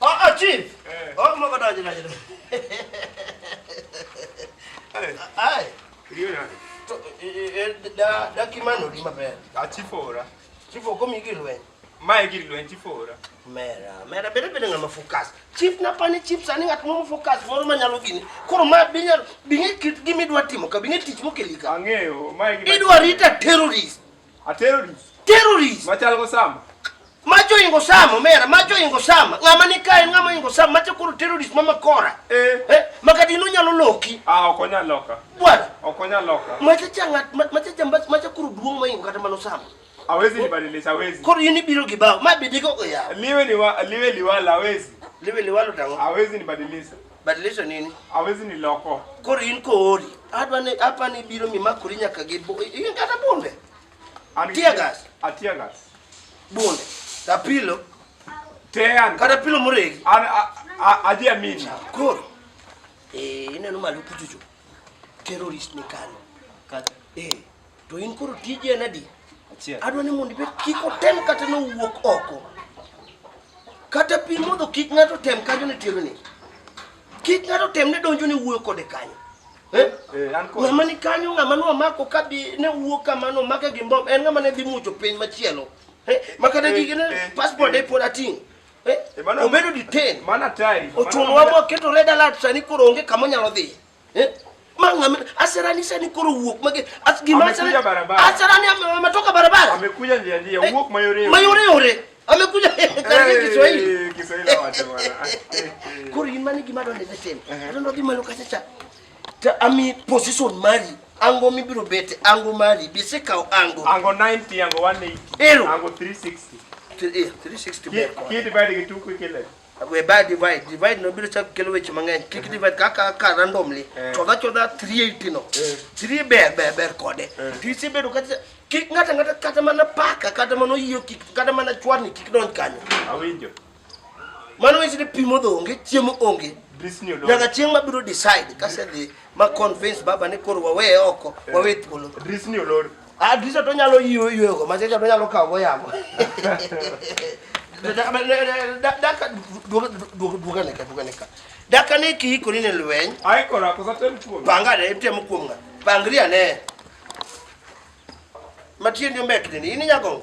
Aa chief. Eh. Oh mwa kata jina jina. Ai. Ai. Iliyo nani? To e da da kimano di maber. A chief ora. Chief ko mi gilwen. Mae gilwen chief ora. Mera, mera bere bere ngama focus. Chief na pani chief sani ngat mo focus moro ma nyalo gini. Koro ma binya binge kit gimi dwa timo ka binge tich mokelika. Ang'eyo, mae gilwen. Idwa rita terrorist. A terrorist. Terrorist. Machal go sama. Macho ingo sama mera, macho ingo sama. Ngama ni kae ngama ingo sama, macho kuru terrorist mama kora. Eh. Eh, makati no nyalo loki. Ah, ok onyal loka. Bwana. Ok onyal loka. Macho changa, macho chamba, macho kuru duong ma ingo kata mano sama. Awezi ni badile sawezi. Koro yini biro gibao, ma bidiko oya. Liwe liwa, liwe liwala awezi. Liwe liwalo tango. Awezi ni badilisa. Badilisho nini? Hawezi niloko. Koro in koori. Adwa ni hapa ni biro mimakori nyaka gi bu- i- i- kata bunde. An gi- Tear gas. A tear gas. Bunde. Ka pilo. Tean. Kata pilo moregi. An a- a- aje amini. Koro. Eh, ineno malo kuchocho. Terrorist ni kano. Eh. To in koro tiji en adi? Achiel. Adwa ni mondo ibed kik otem kata nowuok oko. Kata pi modho kik ng'ato tem kanyo ne tero ni. Kik ng'ato tem ne donjo ne wuoyo kode kanyo. Eh? Eh, an kod. Ng'ama ni kanyo ng'ama no mako ka bi ne wuok kamano make gi mbom en ng'ama ne dhi mucho piny machielo. Eh? Makata Eh, gige ne eh, passport eh. e pod ating'. Eh? Eh, mano- Obedo detain. Mano atari. Ochuno wa moketo red alert sani koro onge kama onyalo dhiye. Eh, ma ng'ame asirani sani koro wuok mage as gima asirani Amekuja barabara. asirani ame- ametoka barabara Amekuja njia njia, Eh, uwuok mayoreo. mayore yore amekuja karange Kiswahili Eh, Kiswahili wacho bwana. Eh, eh. koro in mane gima donde ne timo Ehe. adonde odhi malo kacha cha to ami position mari ango mibiro bete ango mari bisekawo ango Ango 90, ango 180. Ero. Ango 360. Th- eh, 360 Ki- ber kode. Kidibadi gi tuku kile. we buy divide divide no biro chak kelo weche mang'eny kik eh. divide kaka ka randomly eh. chodha chodha 380 no 3 eh. ber ber ber kode to isebedo kata kik ng'ata ng'ata kata mana paka kata mana oyio kik kata mana chwarni kik donj kanyo awinjo mano weche ni pimo dho onge chiemo onge nyaka chieng' mabiro decide kasedhi ma convince baba ni koro wawe oko wawe thuolo Adisa to nyalo yiwo yiwo go, macha to nyalo kawo go yamo. Daka duoga duoga ne ka duoga ne ka. Daka ne ki ko ni ne lweny. Ai ko ra ko sa tem kuom. Panga ne tem kuom nga. Pangria ne. Matien yo mek ni ni nyago.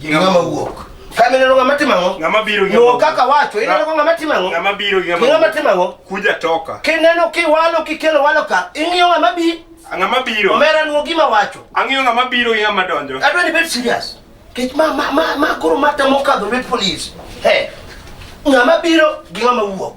gi ng'ama wuok. Kama ineno ng'ama timo ang'o? Ng'ama biro gi ng'ama kaka wacho, ineno ko ng'ama timo ang'o? Ng'ama biro gi ng'ama. Ng'ama timo ang'o? Kuja toka. Kineno kiwalo kikelo walo ka, ing'iyo ng'ama bi. Ng'ama biro. Omera nuo gima wacho. Ang'iyo ng'ama biro gi ng'ama donjo. Adwa ni bed serious. Kech ma ma ma, ma koro mata mokadho red police. He. Ng'ama biro gi ng'ama wuok.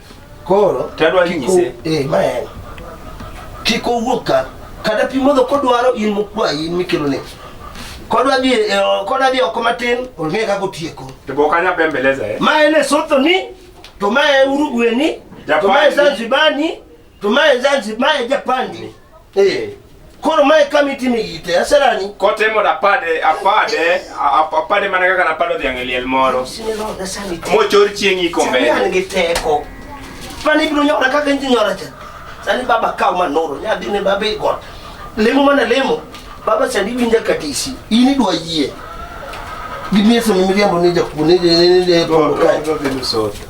Koro tadwa nyise eh ma en kik owuok ka kada pi modho kodwaro in mokwayi in mikelo ne kodwa dhi e, kodwa dhi oko matin ong'e kaka otieko to bo kanya bembeleza eh ma en e sotho ni to ma e urugweni to ma e zanzibani tumaye zanzi maye japandi eh koro mae kama itime ite aserani kotemo da pade apade apade mana kaka napado dhiang' e liel moro mochor chieng' iko mbele an gi teko mane ibiro nyora kaka inji nyora cha sani baba kaw manoro nyadhi ne baba i got lemo mana lemo baba sani winja katisi in idwa yie gimieso mimiriambo ne jakuo ne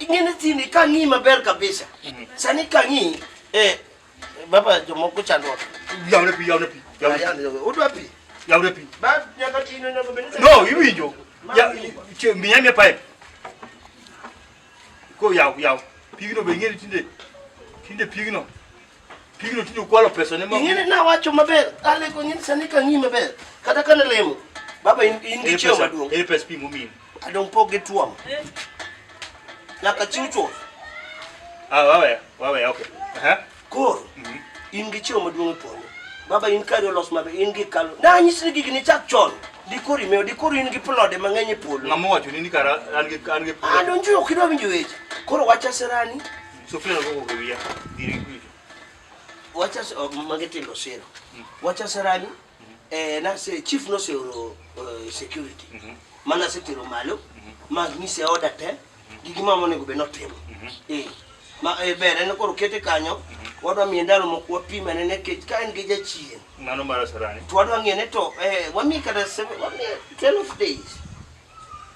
Ing'eni tini ka ng'i maber kabisa. Sani ka ng'i eh baba jomoko chandruok. Yawne pi, yawne pi. Yawne pi. Yawne pi. Udwa pi? Yawne pi. Ba nyaka tino nyaka bende. No, iwinjo. Ya miya miya pipe. Ko yaw yaw. Pigno be ng'eni tinde. Tinde pigno. Pigno tinde ukwalo pesa ne mama. Ing'eni nawacho maber, aleko ing'eni sani ka ng'i maber. Kata ka nalemo, baba in in gi chiemo maduong'. Ere pesa pimo mimi. Adong pog gi tuom. Nyaka chiw chuth. Ah, wawe, wawe, okay. Aha. Koro, Mhm. in gi chiemo maduong' e polo. Baba in kari olos maber, in gi kalo. Na anyisi ni gigi ni chak chon. Dikori mewo, dikori in gi plode mang'eny e polo. Ng'ama owacho ni ni kara an gi an gi Adonjo ok idwa winjo weche. Koro wacha sirani, Sofia na gogo wiya dire kujo. Wacha se- oh, mage tindo sero. Wacha serani eh na se chief no se oro eh, security. Mana se tiro malo. Ma ni se order te. Gigi ma monego be notimo. Eh. Ma eh, bere ne koro kete kanyo. Wadwa miye ndalo moko wapime ne nekech ka en gi jachien. Mano mara sarani. To wadwa ng'e ne to eh, wamiye kata seven- wamiye 12 days.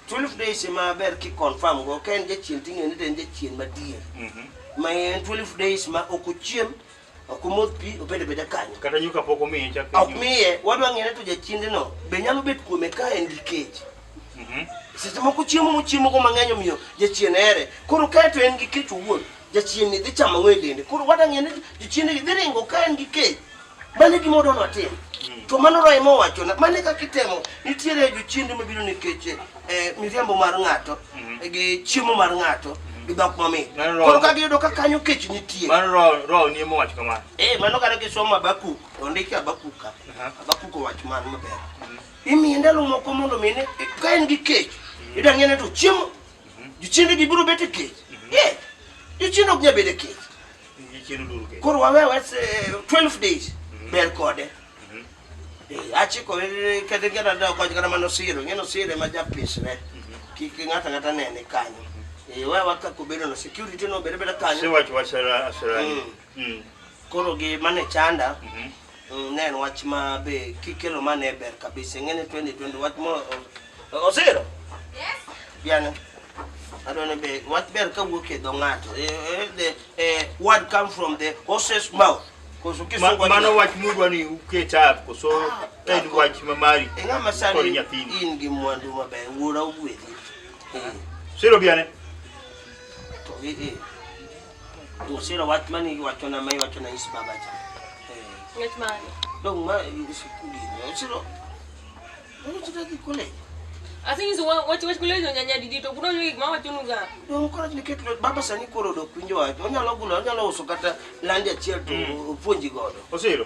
12 days ema ber ki confirm go ka en jachien ting'e ni to en jachien madier Mhm. ma en 12 days ma ok ochiem ok omodh pi obed abeda kanyo Kata nyuka pok omiye chak. ok miye wadwa ng'e ni to jachiendeno be nyalo bet kuome ka en gi kech Mhm. seche moko chiemo mochiemogo mang'eny omiyo jachien here koro kae to en gi kech owuon jachienni dhi chamo ng'o e dende koro wada ng'e ni jochiendegi dhi ringo ka en gi kech mane gima odwa notim hmm. to mano raima owachona mane kaka itemo nitiere jochiende mabiro nikech eh, miriambo mar ng'ato hmm. eh, gi chiemo mar ng'ato hmm. gi dhok mamit koro ka giyudo ka kanyo kech nitie eh, mano kata kisomo abakuk ondiki abakuk ka abakuk owach man maber imiye ndalo moko mondo mine ka en gi kech idang'ene to chiemo Jochiende gi biro bet e kech. Mhm. Eh, jochiende ok nyal bedo e kech. Koro wawe wes 12 eh, days mhm. ber kode. Mhm. Eh, Achiko kata ngera da koj kata mano siro, ngeno sire ma japisre. Kik ng'ata ng'ata nene kanyo. Eh, wewa ka kubedo na security no bere bere kanyo. Siwach wasera asera. Mm. Mm. Koro gi mane chanda. Mm -hmm. Mm, ne en wach ma be kikelo ma ne ber kabisa ing'e ni 2020 wach mo osiro yes. biane adwani be wach ber ka wuok e dho ng'ato e, e, the e, word come from the horses mouth mano wach mudwa ni uketa koso ah, en ah, wach ma mari ing'ama sani in gi mwandu maber wuora ogwedhi siro biane Usira wat mani wacho na mai wacho na is baba cha. Ngat mani. Dong ma is kuli. Usira. Dong usira ki kuli. Asi nyiso wach wach kuli nyonya nya didi to kuno nyogi ma wacho nuga. Dong kora ni ket baba sani koro do kwinjo wacho. Onyalo gulo onyalo uso kata landi achiel to mm. opuonji godo. Usira.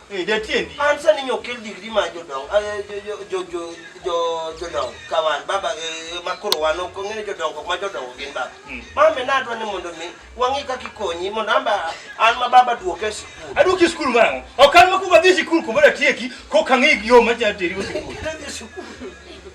Eh, jatiendi. An sani nyo kel digri ma jodong, eh, jo- jo- jo- jo- jo- jodong ka wan, baba eh, ma koro wan ok ong'eyo jodong ok ma jodongo gin baba. Mm. Mame nadwa ni mondo mi wang'i kaka ikonyi mondo an ba- an ma baba duoke e sikul. Aduoki skul mang'o? Ok an makuongo adhi sikul kumoro atieki kok ang'e yo ma jateri sikul. Nadhi sikul.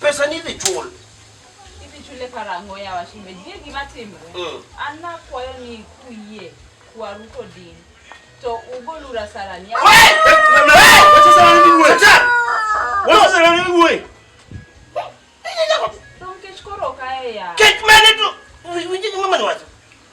Pesa ni idhi chul. Idhi chule karang'o ya washimbe. Gie gima timre. Mm. An nakwayo ni kuyie kwaru kodin. To ugol ura sarani. Wacha sarani ni wuoyi. Wacha sarani ni wuoyi. Don kech koro kae ya. Kech mane to. Winje mama ni wacho.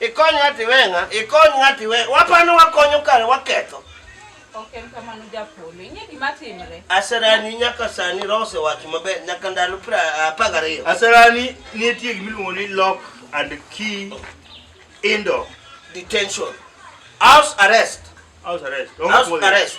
Ikony ng'ati we ng'a, ikony ng'ati we. Wapano wakonyo kare waketho. Ok en kamano japolo. Ing'e gima timre. Aserani nyaka sani roho osewacho maber nyaka ndalo pra apar gariyo. Aserani nitie gima iluongo ni lock and key indoor Detention. House arrest. house arrest. Onge House puodho. arrest.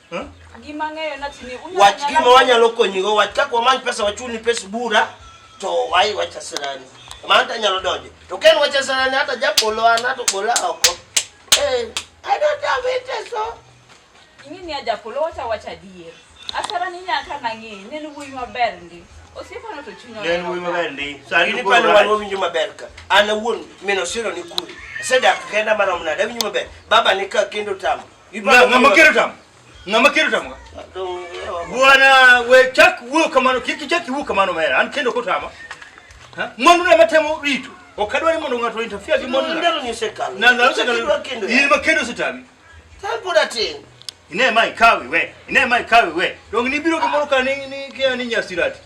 Hmm? Wach gima wanyalo konyigo, wach kaka wamany pesa wachuni pes bura to wai wacha sirani. Mano to anyalo donjo. To ken wacha sirani hata japolo an hata bola oko. Eh, I don't have it so. Ingini aja polo wacha wacha dier. Asara ni nyaka nangi, nenu wuyi maber ndi. Osiepano to chunya. Nenu wuyi maber ndi. Sari ni pano wan winjo maber ka. Ana wuon mino siro ni kuri. Sedak kenda mano mnada winjo maber. Baba ni ka kendo tamu. ngamakirita ngamakirita mga bwana we chak wuyo kamano kiki chak wuyo kamano mera an kendo kotama mwandu na matemo ritu okadwani mondo ng'ato interfere gi mwandu ndalo nyisekalo na ndalo nyisekalo yini makendo sitami tapoda tin ine mai kawi we ine mai kawi we dong ni biro gi moro ka ni ni kia ni nyasirati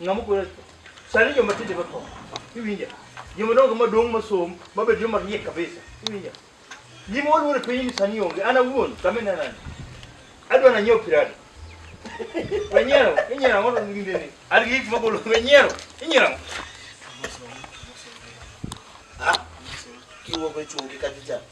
Ng'ama kwero sani joma tinde ba tho. Iwinja? Joma dongo ma dong ma som ma bed joma riek kabisa. Iwinja? Gima waluoro e piny ni sani onge. An awuon kame na nani. Adwa na nyiewo pirado. Wenyero, inyero ang'o to ginde ni. An gi gik magolo wenyero. Inyero ang'o? Ah, kiwuok e chungi ka chicha.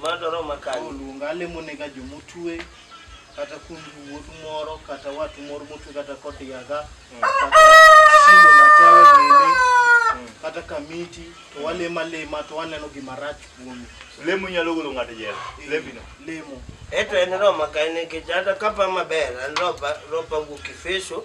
Mano to roma kanye? Oluonga alemonega joma otue kata kuom wuodu moro kata watu moro motue kata kod yaga kata simo nachawe bende kata kamiti to walemo alema to waneno gima rach kuome Lemo nyalo golo ng'ato e jela. Lembino. lemo Eto en roma kanye nikech an kapa maber an ropa ropa wuok Efeso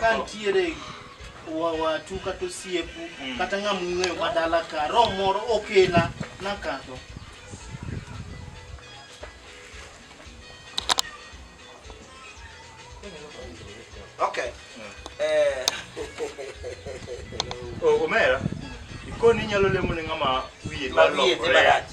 Ka ntiere wa- watu kata osiepu kata ng'ama ung'eyo ma dala ka roho moro okela nakadho Okay. Eh, O- omera ikoni inyalo lemo ne ng'ama wiye ma wiye dhi lokore. marach.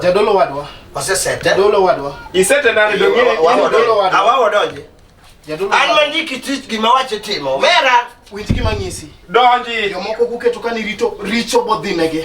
Jadolo wadwa. Osesete. Jadolo wadwa. Isete nani donge? Jadolo wadwa. Awawo donje. Jadolo. An mandiki tich gima wache timo. Mera. Winji gima ng'isi. Donji. Jomoko kuketo kani rito richo bodhinege.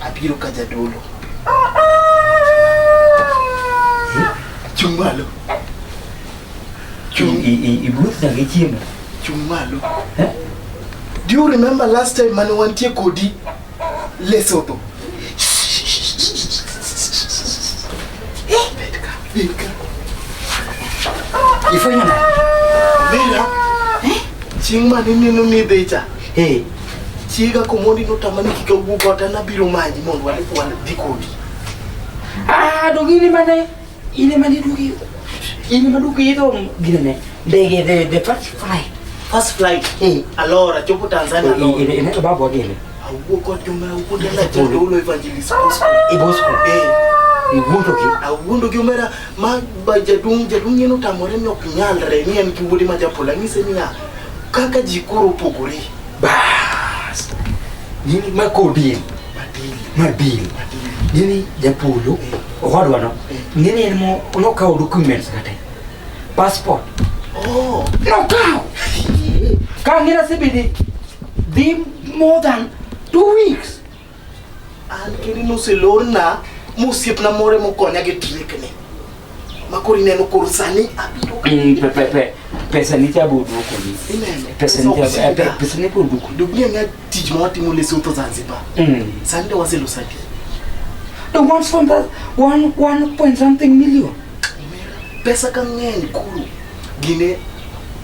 Abiro ka jadolo. Chung' malo. Chung' ibuth na gi chiemo. Chung' malo. Eh? Do you remember last time mane wantie kodi Lesotho? Ifanya na. Mira. Eh? Ching' mane nino ni dhecha. Hey, Chiega komondi notama ni kik awuo kata nabiro manyi mondo wane kwan dhi kodi. Ah, dog in ema ne in ema ne duogi in ema duogi idho gine ne ndege the the first flight. First flight. Eh. Alora chopo Tanzania Eh, alora. eh, eh, to babo gele. Awuo kod joma awuo dala jendo ulo evangelist. E bosko. Eh. E wuondo gi. Awuondo gi omera ma ba jaduong' jaduong' neno tamore ni ok nyalre ni en gi wuode ma japola ng'ise niya Kaka ji koro opogore. Bas. Nini mako deal? Mar deal. Nini japolo? Owadwa no. Nini en mo nokawo documents kate. Passport. Oh. Nokawo. Ka ngira sebidi dhi more than two weeks. An kendo noselorna mosiepna moro mokonya gi trikni makoro ineno koro sani abiro mm, pesa ni jabu duko ni pesa ni jabu eh, pe, pesa ni kuru duko duko ni ngat tich ma watimo le soto Zanzibar mm. sani do waselo sadi the one from that one one point something million pesa ka ng'eny kuru gine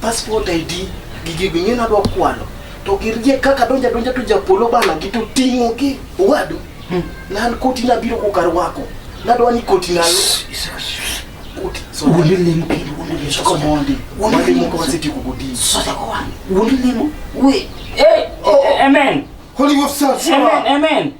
passport ID gigi ging'e na dwa kwalo To girie kaka donja donja to japolo bana gi to tingo gi wadu. Hmm. Nan koti na biro ko kar wako. Na do ni koti na lo. Koti. So wundi lim pi wundi lim ko mondi. Wundi lim ko siti ko gudi. So ta ko wan. Wundi lim. We. Hey. Oh, oh. Amen. Holy Ghost. Amen. Amen.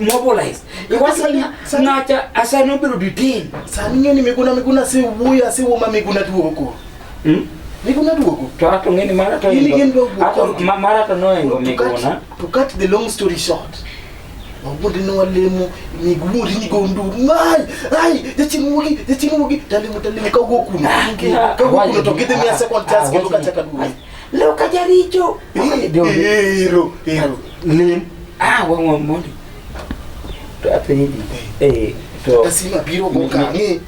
mobilize ikwasanya nacha asano biro detain sani ng'eni miguna miguna si wuya si wuma miguna duogo hmm? miguna duogo to ato ng'eni mara to ini gen duogo ato mara to noengo miguna to cut the long story short wabundi ni walemu miguri ni gondu ngai ai jachimugi jachimugi talimu talimu kago kuna kago kuna tokete mia second task ndo kacha kaduri Leo kajaricho. Eh, ndio. Hero, hero. Lim. Ah, wangu mboni. To apenyi. Eh, to. Tasima biro go ka ngi.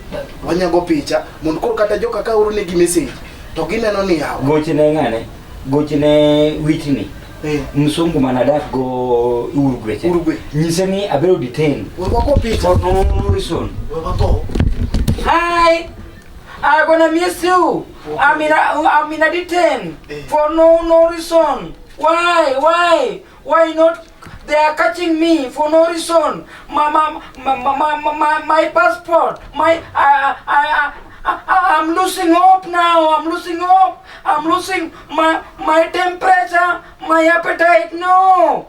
Wanyago picha. Mon kor kata joka ka uru ne gi message. To gineno ni yawa. Gochi ne ngane. Gochi ne witini. Eh. Msungu manadak go Uruguay. Uruguay. Nyise ni abiro detain. Wako picha. For no reason. Wako. Hi. I gonna miss you. I'm in a, I'm in a detain eh. for no no reason. Why? Why? Why not? They are catching me for no reason. My my my my, my, my passport. My I I I I'm losing hope now. I'm losing hope. I'm losing my my temperature, my appetite. No,